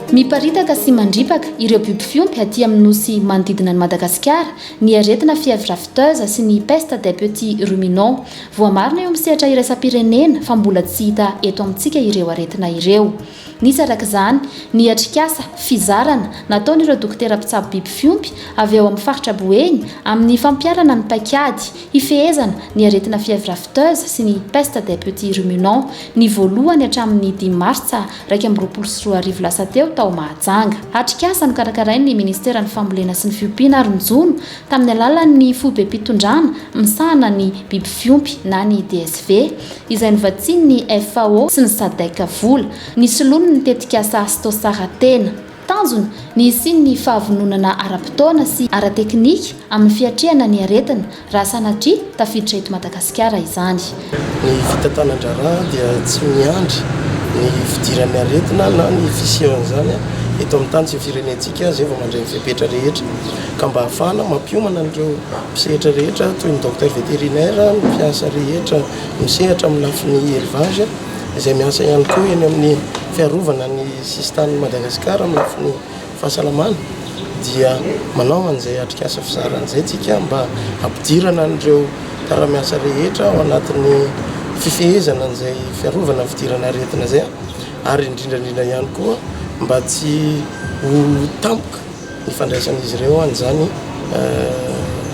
Miparitaka sy mandripaka ireo biby fiompy aty amin'ny nosy manodidina an'i Madagasikara ny aretina fièvre afteuse sy ny peste des petits ruminants. Voamarina eo amin'ny sehatra iraisam-pirenena fa mbola tsy hita eto amintsika ireo aretina ireo. Nisy araka izany ny atrikasa fizarana nataon'ireo dokotera mpitsabo biby fiompy avy ao amin'ny faritra Boeny amin'ny fampiharana ny paik'ady hifehezana ny aretina fièvre afteuse sy ny peste des petits ruminants ny voalohany hatramin'ny dimy martsa iraika amby roapolo sy roa arivo lasa teo tao Mahajanga. Atrikasa nokarakarain'ny ministeran'ny fambolena sy ny fiompiana ary ny jono tamin'ny alalan'ny foibem-pitondrana misahana ny biby fiompy na ny DSV, izay novatsian'ny FAO sy ny Sadec vola, nisoloany ny tetikasa Astosara Tena. Tanjona, ny hisian'ny fahavononana ara-potoana sy ara-teknika amin'ny fiatrehana ny aretina, raha sanatria tafiditra eto Madagasikara izany. Ny fitantanan-draharaha dia tsy miandry ny fidiran'ny aretina na ny fisian'izany eto amin'ny tany sy ny firenentsika izay vao mandray ny fepetra rehetra. Ka mba hahafahana mampiomana an'ireo mpisehatra rehetra toy ny Docteur Vétérinaire, ny mpiasa rehetra misehatra amin'ny lafiny Élevage izay miasa ihany koa eny amin'ny fiarovana ny sisin-tanin'i Madagasikara amin'ny lafiny Fahasalamana dia manao an'izay atrikasa fizarana izay tsika mba hampidirana an'ireo mpiara-miasa rehetra ao anatin'ny fifehezana an'izay fiarovana ny fidirana aretina izay ary indrindra indrindra ihany koa mba tsy ho tampoka ny fandraisan'izy ireo an'izany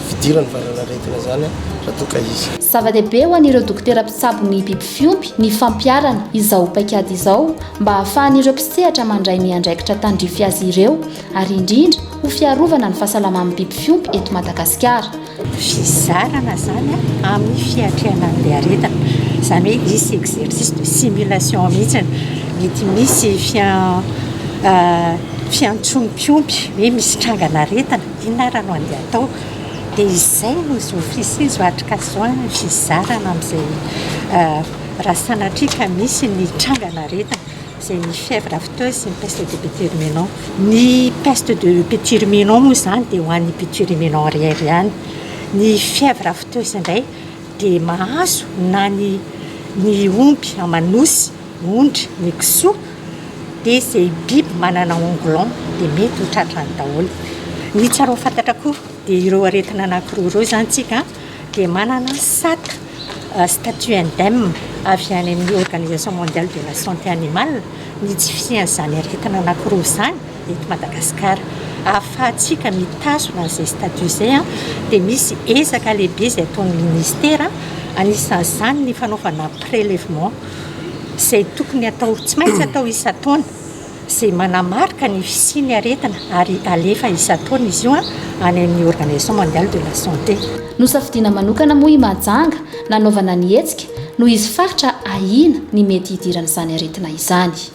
fidiran'ny valanaretina izany raha toa ka izy. Zava-dehibe ho an'ireo dokotera mpitsabo ny biby fiompy ny fampiharana izao paikady izao mba hahafahan'ireo mpisehatra mandray ny andraikitra tandrify azy ireo ary indrindra ho fiarovana ny fahasalaman'ny biby fiompy eto Madagasikara. Fizarana izany amin'ny fiatrehana an'ilay aretina, izany hoe hisy exercice de simulation mihitsy, mety misy fiantsoan'ny mpiompy hoe misy trangan'aretina, inona ary no andeha hatao? dia izay no zo fisian'ny zo atrikasa izao, ny fizarana amin'izay Raha sanatria ka misy ny trangan'aretina izay ny fièvre afteuse sy ny peste de Péturuménant. Ny peste de Péturuménant moa izany dia ho an'ny Péturuménant arrière ihany. Ny fièvre afteuse indray dia mahazo na ny ny omby aman'osy, ondry, ny kisoa dia izay biby manana ongulon dia mety ho tratrany daholo. Ny tsara ho fantatra koa dia ireo aretina anankiroa ireo izany tsika an! dia manana sac statut indem avy any amin'ny organisation mondiale de la santé animale ny tsy fisian'izany aretina anankiroa izany eto Madagasikara. Ahafahantsika mitazona an'izay statut izay dia misy ezaka lehibe izay ataon'ny ministera, anisan'izany ny fanaovana prélèvement izay tokony atao, tsy maintsy atao isan-taona. izay manamarika ny fisian'ny aretina ary alefa isan-taona izy io any amin'ny Organisation Mondiale de la Santé. Nosafidiana manokana moa i Mahajanga nanaovana ny hetsika noho izy faritra ahiana ny mety hidiran'izany aretina izany.